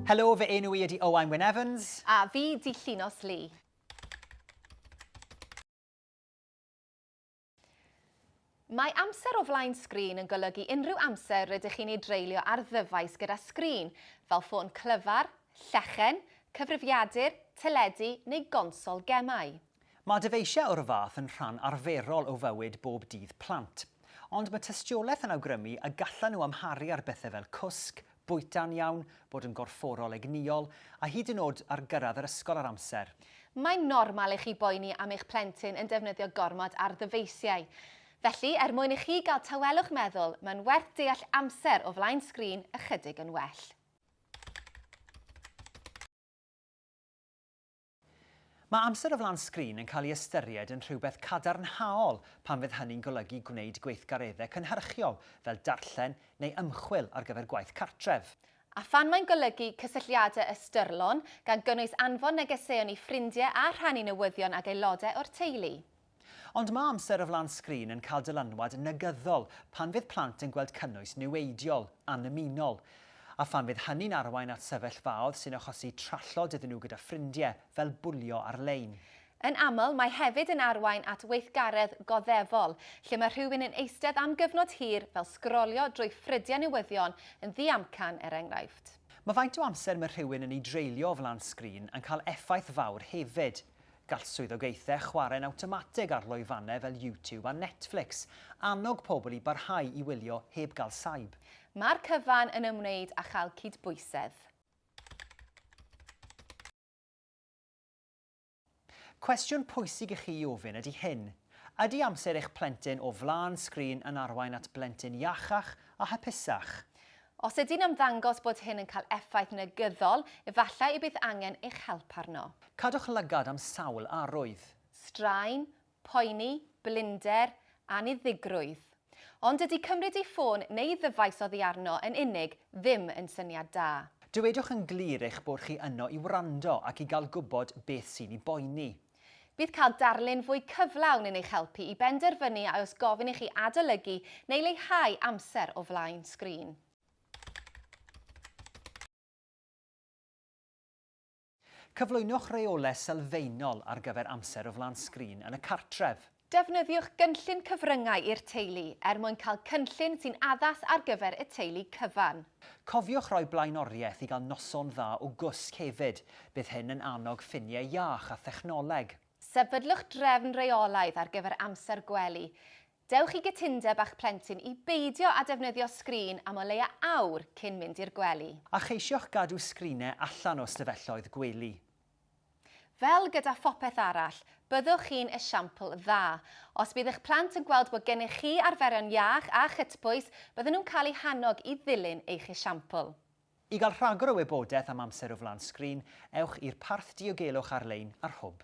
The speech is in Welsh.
Helo, fy enw i ydy Owain Wyn Evans. A fi di Llinos Lee. Mae amser o flaen sgrin yn golygu unrhyw amser rydych chi'n ei dreulio ar ddyfais gyda sgrin, fel ffôn clyfar, llechen, cyfrifiadur, teledu neu gonsol gemau. Mae dyfeisiau o'r fath yn rhan arferol o fywyd bob dydd plant. Ond mae tystiolaeth yn awgrymu y gallan nhw amharu ar bethau fel cwsg, Bwyta'n iawn, bod yn gorfforol egnïol, a hyd yn o'd ar gyrraedd yr ysgol ar amser. Mae'n normal i chi boeni am eich plentyn yn defnyddio gormod ar ddyfeisiau. Felly, er mwyn i chi gael tawelwch meddwl, mae'n werth deall amser o flaen sgrin ychydig yn well. Mae amser o flaen sgrin yn cael ei ystyried yn rhywbeth cadarnhaol pan fydd hynny'n golygu gwneud gweithgareddau cynhyrchiol fel darllen neu ymchwil ar gyfer gwaith cartref. A phan mae'n golygu cysylltiadau ystyrlon, gan gynnwys anfon negeseuon i ffrindiau a rhannu newyddion ag aelodau o'r teulu? Ond mae amser o flaen sgrin yn cael dylanwad negyddol pan fydd plant yn gweld cynnwys niweidiol, annymunol. A phan fydd hynny'n arwain at sefyllfaodd sy'n achosi trallod iddyn nhw gyda ffrindiau, fel bwlio ar-lein. Yn aml, mae hefyd yn arwain at weithgaredd goddefol, lle mae rhywun yn eistedd am gyfnod hir, fel sgrolio drwy ffrydiau newyddion yn ddiamcan, er enghraifft. Mae faint o amser mae rhywun yn ei dreulio o flaen sgrin yn cael effaith fawr hefyd. Gall swyddogaethau chwarae'n awtomatig ar lwyfannau fel YouTube a Netflix annog pobl i barhau i wylio heb gael saib. Mae'r cyfan yn ymwneud â chael cydbwysedd. Cwestiwn pwysig i chi i ofyn ydy hyn, Ydy amser eich plentyn o flaen sgrin yn arwain at blentyn iachach a hapusach? Os ydy'n ymddangos bod hyn yn cael effaith negyddol, efallai y bydd angen eich help arno. Cadwch lygad am sawl arwydd. Straen, poeni, blinder, anniddigrwydd. Ond dydy cymryd ei ffôn neu ddyfais oddi arno yn unig ddim yn syniad da. Dywedwch yn glir eich bod chi yno i wrando ac i gael gwybod beth sy'n ei boeni. Bydd cael darlun fwy cyflawn yn eich helpu i benderfynu a oes gofyn i chi adolygu neu leihau amser o flaen sgrin. Cyflwynwch reolau sylfaenol ar gyfer amser o flaen sgrin yn y cartref. Defnyddiwch gynllun cyfryngau i'r teulu er mwyn cael cynllun sy'n addas ar gyfer y teulu cyfan. Cofiwch roi blaenoriaeth i gael noson dda o gwsg hefyd, bydd hyn yn annog ffiniau iach a thechnoleg. Sefydlwch drefn reolaidd ar gyfer amser gwely. Dewch i gytundeb â'ch plentyn i beidio â defnyddio sgrin am o leia awr cyn mynd i'r gwely. A cheisioch gadw sgrinau allan o ystafelloedd gwely. Fel gyda phopeth arall, byddwch chi'n esiampl dda. Os bydd eich plant yn gweld bod gennych chi arferion iach a chytbwys, bydden nhw'n cael eu hannog i ddilyn eich esiampl. I gael rhagor o wybodaeth am amser o flaen sgrin, ewch i'r parth diogelwch ar-lein ar Hwb.